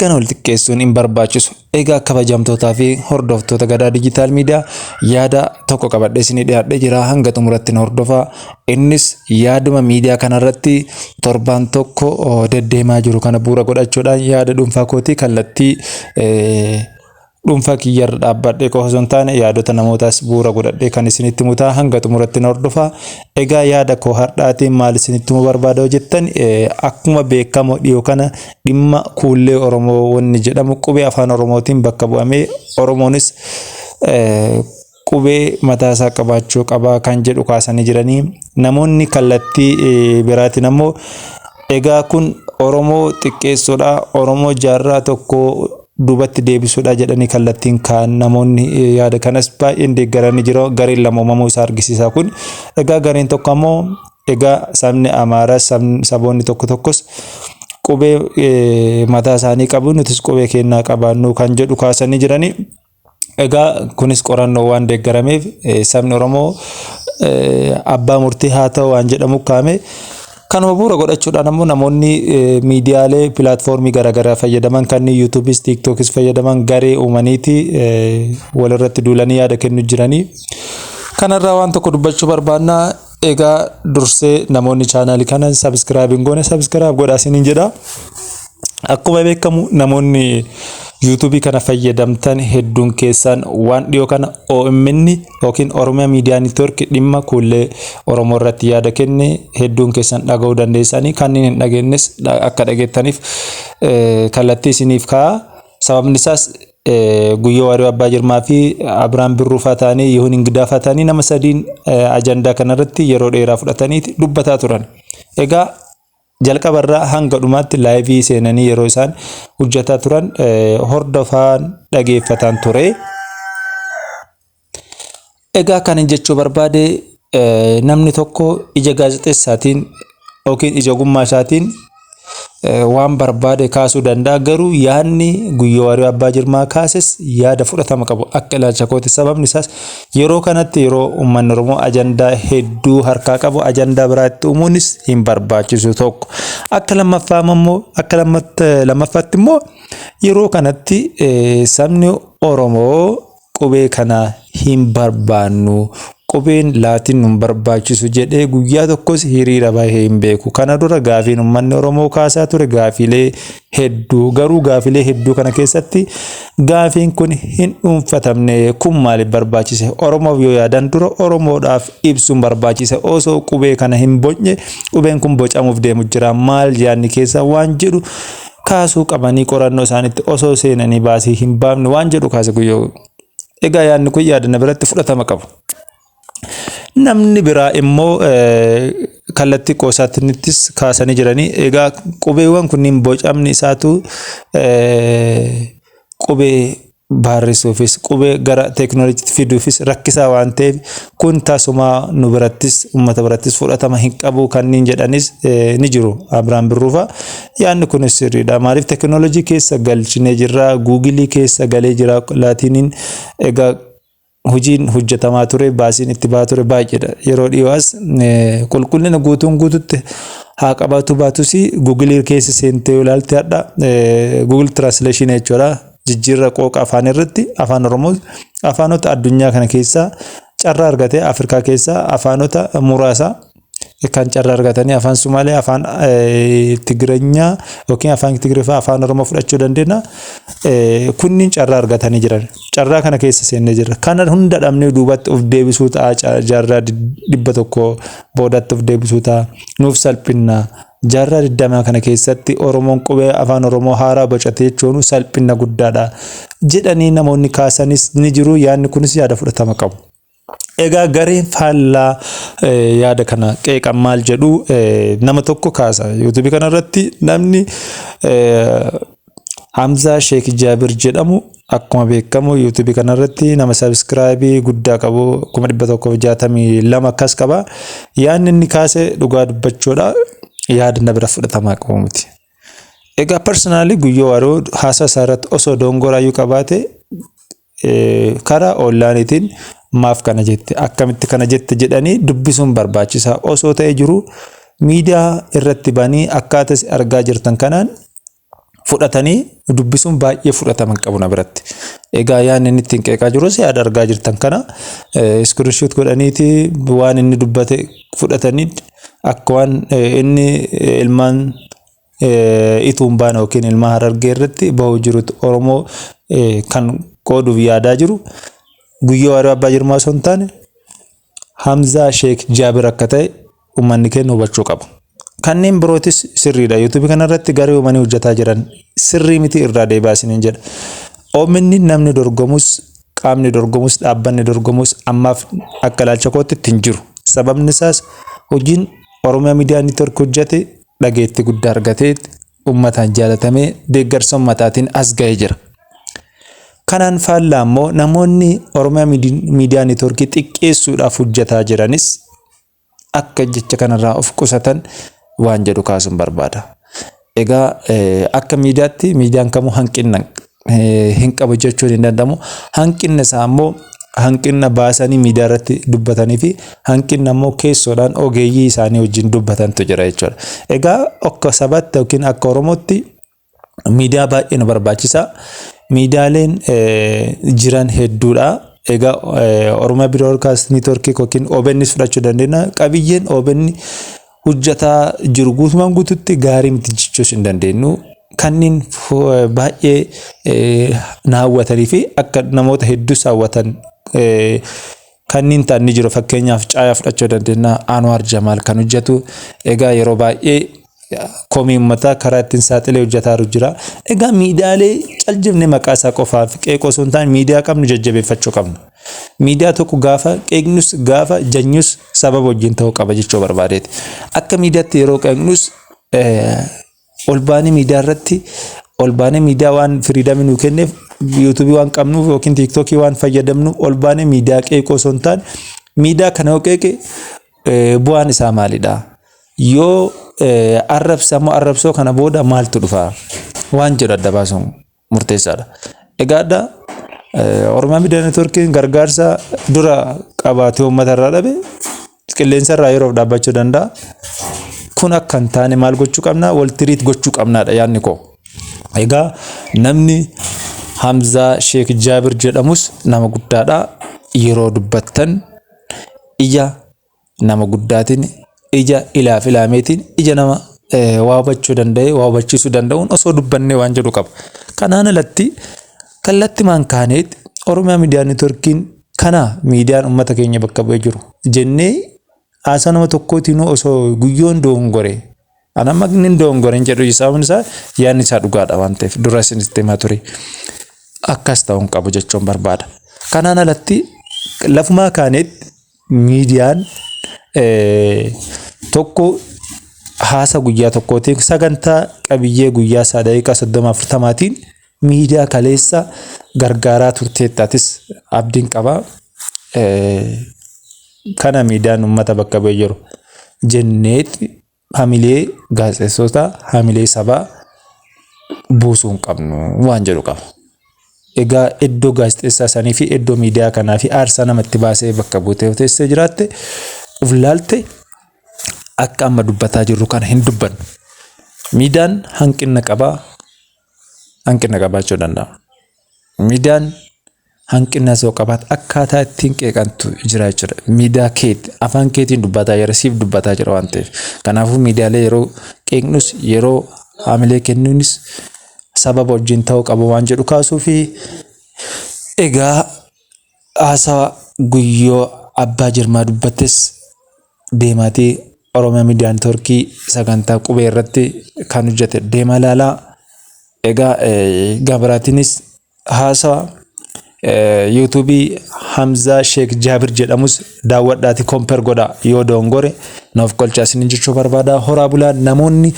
Kana wal xiqqeessuun hin barbaachisu. Egaa kabajamtootaa fi hordoftoota gadaa diijitaal miidiyaa yaada tokko qabadhee isinii dhiyaadhee jira hanga xumuratti na hordofaa. Innis yaaduma miidiyaa kanarratti torbaan tokko deddeemaa jiru kana bu'uura godhachuudhaan yaada dhuunfaa kootii kallattii Dhuunfaa kiyya irra dhaabbadhee qofa osoo hin taane yaadota namootaas bu'uura godhadhee kan isinitti himu ta'a hanga xumuratti na hordofaa. Egaa yaada koo har'aatiin maal isinitti himuu barbaada yoo jettan akkuma beekamu dhiyoo kana dhimma kuullee Oromoo wanni jedhamu qubee afaan Oromootiin bakka bu'amee Oromoonis qubee mataa isaa qabaachuu qaba kan jedhu kaasanii jiranii namoonni kallattii biraatiin ammoo egaa kun Oromoo xiqqeessuudha Oromoo jaarraa tokko duubatti deebisuudha jedhanii kallattiin kaan namoonni yaada kanas baay'een deeggaranii jiru gareen lama uumamuu isaa argisiisa kun egaa gareen tokko ammoo egaa sabni Amaaraa saboonni tokko tokkos qubee mataa isaanii qabu nutis qubee keenyaa qabaannu kan jedhu kaasanii jiranii. Egaa kunis qorannoo waan deeggarameef sabni Oromoo abbaa murtii haa ta'u waan jedhamu kaa'ame. Kanuma bu'uura godhachuudhaan ammoo namoonni miidiyaalee pilaatfoormii garaagaraa fayyadaman kanneen yuutuubis tiiktookis fayyadaman garee uumaniiti walirratti duulanii yaada kennu jiranii. Kanarraa waan tokko dubbachuu barbaanna. Egaa dursee namoonni chaanaali kana sabiskiraayib hin goone sabiskiraayib godhaa isiniin jedha. Akkuma beekamu namoonni yuutuubii kana fayyadamtan hedduun keessan waan dhiyoo kana OMN yookiin Oromiyaa Miidiyaa Niitwoorki dhimma kuullee Oromoo irratti yaada kenne hedduun keessan dhaga'uu dandeessanii kanneen hin dhageennes akka dhageettaniif kallattii isiniif kaa'a. Sababni isaas Guyyoo Waariyoo Abbaa Jirmaa fi Abiraam Birruu faa ta'anii Yihuun Ingidaa faa ta'anii nama sadiin ajandaa kanarratti yeroo dheeraa fudhatanii dubbataa turan. Egaa jalqabarraa hanga dhumaatti laayivii seenanii yeroo isaan hojjetaa turan hordofaan dhageeffataan ture. Egaa kanin jechuu barbaade namni tokko ija gaazexessaatiin yookiin ija ogummaa isaatiin waan barbaade kaasuu danda'a garuu yaadni guyyoo waariyo abbaa jirmaa kaases yaada fudhatama qabu akka ilaalcha kooti sababni isaas yeroo kanatti yeroo uummanni oromoo ajandaa hedduu harkaa qabu ajandaa biraa itti uumuunis hin barbaachisu tokko akka lammaffaa immoo akka lammaffaatti immoo yeroo kanatti sabni oromoo qubee kana hin barbaannu. Qubeen laatiin nun barbaachisu jedhee guyyaa tokkos hiriira bahee hin beeku. Kana dura gaafiin uummanni Oromoo kaasaa ture gaafiilee hedduu. Garuu gaafiilee hedduu kana keessatti gaafiin kun hin dhuunfatamne. Kun maaliif barbaachise? Oromoof yoo yaadan dura Oromoodhaaf ibsuun barbaachise. Osoo qubee kana hin bocne qubeen kun bocamuuf deemu jira. Maal yaadni keessa waan jedhu kaasuu qabanii qorannoo isaaniitti osoo seenanii baasii hin baafne waan jedhu kaase guyyoo. Egaa yaadni kun yaada na biratti fudhatama qabu. Namni biraa immoo kallattii qoosaattinittis kaasanii jiranii egaa qubeewwan kunniin bocamni isaatu qubee baarreessuufis qubee gara teeknooloojiitti fiduufis rakkisaa waan ta'eef kun tasumaa nu birattis uummata birattis fudhatama hin qabu kanneen jedhanis ni jiru Abiraam Birruufa. Yaadni kunis sirriidha. Maaliif teeknooloojii keessa galchinee jirra, guugilii keessa galee jira laatiiniin egaa Hojiin hojjetamaa ture, baasiin itti bahaa ture baay'eedha. Yeroo dhiyoo as qulqullina guutuun guututti haa qabaatu baatus Google keessa seentee yoo ilaalte hadha Google Translation jechuudha. Jijjiirra qooqa afaan irratti afaan Oromoo afaanota addunyaa kana keessaa carraa argatee Afrikaa keessaa afaanota muraasa kan carra argatanii afaan Sumaalee, afaan Tigireenyaa yookiin afaan Tigirifaa afaan Oromoo fudhachuu dandeenya. Kunniin carraa argatanii jiran. Carraa kana keessa seennee jirra. Kana hunda dhabnee duubatti of deebisuu ta'a jaarraa dhibba tokko boodatti of deebisuu ta'a. Nuuf salphinna. Jaarraa digdamaa kana keessatti Oromoon qubee afaan Oromoo haaraa bocate jechuun salphinna guddaadha. Jedhanii namoonni kaasanis ni jiru. Yaadni kunis yaada fudhatama qabu. Egaa gareen faallaa yaada kana qeeqan maal jedhu nama tokko kaasa yuutuubii kana irratti namni Hamzaa Sheek Jaabir jedhamu akkuma beekamu yuutuubii kana irratti nama sabiskiraayibii guddaa qabu kuma dhibba tokkoof jaatamii lama akkas qaba yaadni inni kaase dhugaa dubbachuudha yaadni bira fudhatamaa qabu miti. Egaa personally guyyoo waaroo haasaa isaa irratti osoo dongoraayyuu qabaate karaa onlaaniitiin maaf kana jette akkamitti kana jette jedhanii dubbisuun barbaachisaa osoo ta'e jiru miidiyaa irratti banii akkaataa isin argaa jirtan kanaan fudhatanii dubbisuun baay'ee fudhatama hin qabu na biratti. Egaa yaadni inni ittiin qeeqaa jirus yaada argaa jirtan kana iskirinshoot godhaniiti waan inni dubbate fudhatanii akka waan inni ilmaan ituun baana yookiin ilmaa harargee irratti bahuu jirutti Oromoo kan qooduuf yaadaa jiru guyyoo waaroo abbaa jirmaa osoo hin taane Hamzaa Sheek Jaabir akka ta'e uummanni keenya hubachuu qaba. Kanneen birootis sirriidha. Yuutuubii kanarratti garee uumanii hojjetaa jiran sirrii miti irraa deebi'aa isiniin jedha. Omn namni dorgomus qaamni dorgomus dhaabbanni dorgomus ammaaf akka ilaalcha kootti itti hin jiru. Sababni isaas hojiin Oromiyaa Miidiyaa Niitwork hojjate dhageettii guddaa argatee ummataan jaalatamee deeggarsa ummataatiin as ga'ee jira. Kanaan faallaa immoo namoonni Oromiyaa Miidiyaa Niitworkii xiqqeessuudhaaf hojjataa jiranis akka jecha kanarraa of qusatan waan jedhu kaasuun barbaada. Egaa akka miidiyaatti miidiyaan kamuu hanqinna hin qabu jechuun hin danda'amu. Hanqinni isaa immoo hanqinna baasanii miidiyaa irratti dubbatanii fi hanqinna immoo keessoodhaan ogeeyyii isaanii wajjin dubbatantu jira jechuudha. Egaa akka sabaatti yookiin akka Oromootti miidiyaa baay'ee nu barbaachisa. Miidiyaaleen jiran hedduudha. Egaa Oromiyaa Biroodkaast Niitworkii yookiin OBNs fudhachuu dandeenya. Qabiyyeen OBN hojjetaa jiru guutumaan guututti gaarii miti jechuus hin dandeenyu. Kanneen baay'ee na hawwatanii fi akka namoota hedduus hawwatan kanneen ta'an ni jiru. Fakkeenyaaf caayaa fudhachuu dandeenya. Anwaar Jamaal kan hojjetu. Egaa yeroo baay'ee komii ummataa karaa ittiin saaxilee hojjetaaru jira. Egaa miidiyaalee caljifne maqaa isaa qofaaf qeeqoo osoo hin taane miidiyaa qabnu jajjabeeffachuu qabna. Miidiyaa tokko gaafa qeeqnus gaafa janyus sababa wajjin ta'uu qaba jechuu barbaadeeti. Akka miidiyaatti yeroo qeeqnus ol baanee miidiyaa irratti ol baanee miidiyaa waan firiidamii nuu kenneef yuutuubii waan qabnuuf yookiin tiiktookii waan fayyadamnu ol baanee miidiyaa qeeqoo osoo hin taane miidiyaa kana yoo qeeqe bu'aan isaa maalidha? Yoo arrabsamoo arrabsoo kana booda maaltu dhufa waan jedhu adda baasuun murteessaadha. Egaa adda Oromiyaa Miidiyaa Neetwoorkiin gargaarsa dura qabaatee uummata irraa dhabe qilleensa irraa yeroof dhaabbachuu danda'a. Kun akka hin taane maal gochuu qabna? Wal tiriit gochuu qabnaadha yaadni koo. Egaa namni Hamzaa Sheek Jaabir jedhamus nama guddaadha. Yeroo dubbattan ija nama guddaatiin ija ilaaf ilaameetiin ija nama waa hubachuu danda'e waa hubachiisuu danda'uun osoo dubbannee waan jedhu qaba. Kanaan alatti kallattimaan kaaneet Oromiyaa Miidiyaa Neetworkiin kana miidiyaan uummata keenya bakka bu'ee jiru jennee haasaa nama tokkootiin osoo guyyoon doongore an amma inni doongore hin jedhu sababni isaa yaadni isaa dhugaadha waan ta'eef dura isinitti himaa ture akkas ta'uu hin qabu jechuun barbaada. Kanaan alatti lafumaa kaaneet miidiyaan tokko haasa guyyaa tokkootiin sagantaa qabiyyee guyyaa isaa daqiiqaa soddoma afurtamaatiin miidiyaa kaleessa gargaaraa turteettaatis abdiin qaba. Kana miidiyaan uummata bakka bu'ee jiru jenneetti hamilee gaazexeessota hamilee sabaa buusuu hin qabnu waan jedhu qaba. Egaa iddoo gaazexeessaa sanii fi iddoo miidiyaa kanaa fi aarsaa namatti baasee bakka buutee yoo teessee jiraatte of laalte akka amma dubbataa jirru kana hin dubbannu. Miidiyaan hanqina qabaa hanqina qabaachuu danda'a. Miidiyaan hanqinas yoo qabaat akkaataa ittiin qeeqantu jira jechuudha. Miidiyaa keeti afaan keetiin dubbataa jira siif dubbataa jira waan ta'eef. Kanaafuu miidiyaalee yeroo qeeqnus yeroo haamilee kennuunis sababa wajjin ta'uu qaba waan jedhu kaasuu fi egaa haasawa guyyoo abbaa jirmaa dubbattes deemaatii Oromiyaa Miidiyaa Neetwoorkii sagantaa qubee irratti kan hojjete deemaa ilaalaa. Egaa gabaraatiinis haasawa yuutuubii Hamzaa Sheek Jaabir jedhamus daawwadhaati komper godha yoo doongore naaf qolchaa isin jechuu barbaada horaa bulaa namoonni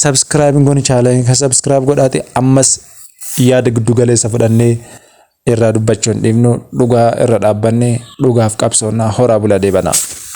sabskiraayib goone chaalanii kan sabskiraayib godhaati ammas yaada giddu galeessa fudhannee irraa dubbachuun dhiifnu dhugaa irra dhaabbanne dhugaaf qabsoonnaa horaa bulaa deebanaa.